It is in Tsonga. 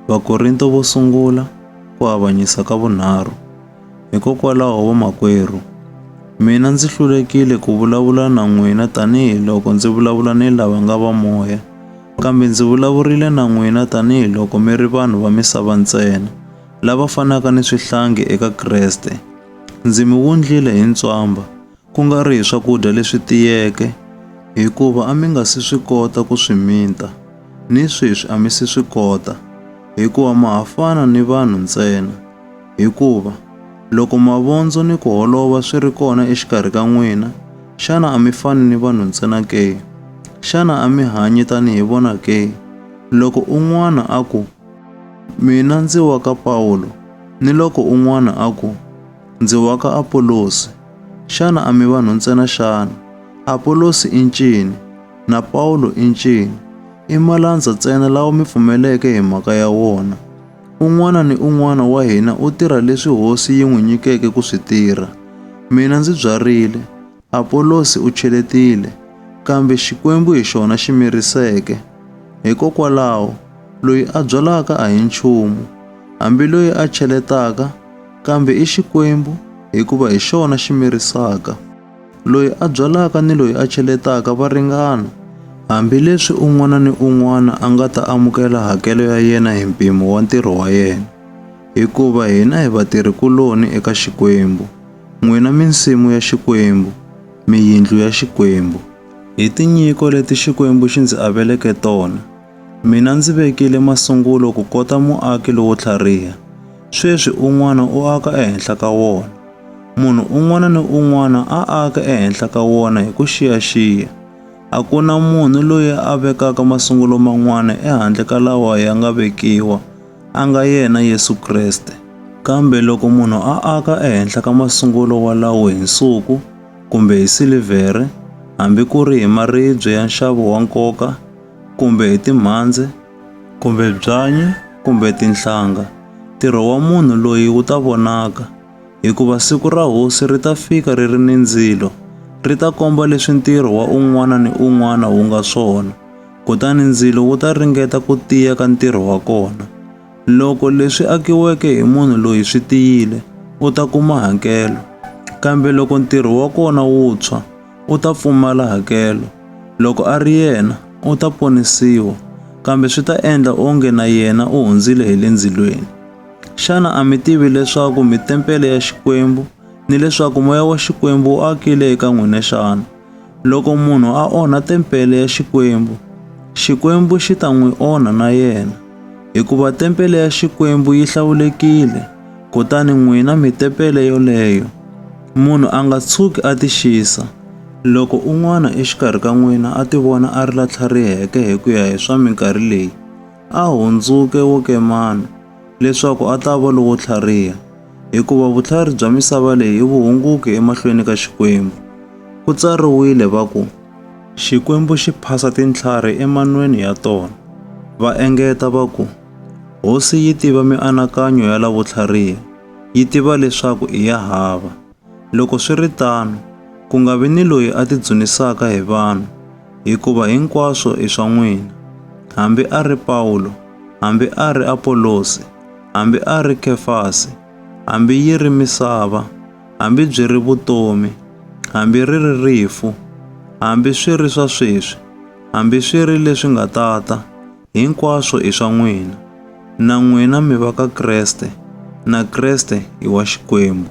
Vakorinto vo sungula ku avanyisa ka vunharhu. Hikokwalaho vamakwerhu, mina ndzi hlulekile ku vulavula na n'wina tanihi loko ndzi vulavula ni lava nga va moya, kambe ndzi vulavurile na n'wina tanihi loko mi ri vanhu va misava ntsena, lava fanaka ni swihlangi eka Kreste. Ndzi mi wundlile hi ntswamba, ku nga ri hi swakudya leswi tiyeke, hikuva a mi nga si swi kota ku swi mita, ni sweswi a mi si swi kota, hikuva ma ha fana ni vanhu ntsena. Hikuva, loko mavondzo ni ku holova swi ri kona exikarhi ka n'wina, xana a mi fani ni vanhu ntsena ke? Xana a mi hanyi tanihi vona ke? Loko un'wana a ku, Mina ndzi wa ka Pawulo, ni loko un'wana a ku, Ndzi wa ka Apolosi. Xana a mi vanhu ntsena xana? Apolosi i ncini? Na Pawulo i ncini? I malandza ntsena lawa mi pfumeleke hi mhaka ya wona. Un'wana ni un'wana wa hina u tirha leswi Hosi yi n'wi nyikeke ku swi tirha. Mina ndzi byarile, Apolosi u cheletile, kambe Xikwembu hi xona xi miriseke. Hikokwalaho, loyi a byalaka a hi nchumu, hambi loyi a cheletaka, kambe i Xikwembu, hikuva hi xona xi mirisaka. Loyi a byalaka ni loyi a cheletaka va ringana. Hambileswi un'wana ni un'wana a nga ta amukela hakelo ya yena hi mpimo wa ntirho wa yena, hikuva hina hi vatirhi-kuloni eka Xikwembu. N'wina minsimu ya Xikwembu, mi yindlu ya Xikwembu, hi tinyiko leti Xikwembu xi ndzi aveleke tona, mina ndzi vekile masungulo ku kota muaki lowo tlhariha, sweswi un'wana u aka ehenhla ka wona. Munhu un'wana ni un'wana a aka ehenhla ka wona hi ku xiyaxiya. A ku na munhu loyi a vekaka masungulo man'wana ehandle ka lawa ya nga vekiwa, a nga yena Yesu Kreste. Kambe loko munhu a aka ehenhla ka masungulo walawo hi nsuku kumbe hi silivhere, hambi ku ri hi maribye ya nxavo wa nkoka kumbe hi timhandze kumbe byanyi kumbe tinhlanga, ntirho wa munhu loyi wu ta vonaka, hikuva siku ra Hosi ri ta fika ri ri ni ndzilo, ri ta komba leswi ntirho wa un'wana ni un'wana wu nga swona. Kutani ndzilo wu ta ringeta ku tiya ka ntirho wa kona. Loko leswi akiweke hi munhu loyi swi tiyile, u ta kuma hakelo. Kambe loko ntirho wa kona wu tshwa, u ta pfumala hakelo. Loko a ri yena, u ta ponisiwa, kambe swi ta endla onge na yena u hundzile hi le ndzilweni. Xana a mi tivi leswaku mi tempele ya Xikwembu ni leswaku moya wa Xikwembu wu akile eka n'wina xana? Loko munhu a onha tempele ya Xikwembu, Xikwembu xi ta n'wi onha na yena, hikuva tempele ya Xikwembu yi hlawulekile, kutani n'wina mi tempele yoleyo. Munhu a nga tshuki a tixisa, loko un'wana exikarhi ka n'wina a tivona a ri la tlhariheke hi ku ya hi swa minkarhi leyi, a hundzuke wo kemana. leswaku a ta va lowo tlhariha, hikuva vutlhari bya misava leyi i vuhunguki emahlweni ka Xikwembu. Ku tsariwile va ku, Xikwembu xi phasa tintlhari emanweni ya tona. Va engeta va ku, Hosi yi tiva mianakanyo ya lavo tlhariha, yi tiva leswaku i ya hava. Loko swi ri tano, ku nga vi ni loyi a tidzunisaka hi vanhu, hikuva hinkwaswo i swa n'wina. Hambi a ri Pawulo, hambi a ri Apolosi, hambi a ri Kefasi, hambi yi ri misava, hambi byi ri vutomi, hambi ri ri rifu, hambi swi ri swa sweswi, hambi swi ri leswi nga ta ta, hinkwaswo i swa n'wina. Na n'wina mi va ka Kreste, na Kreste i wa Xikwembu.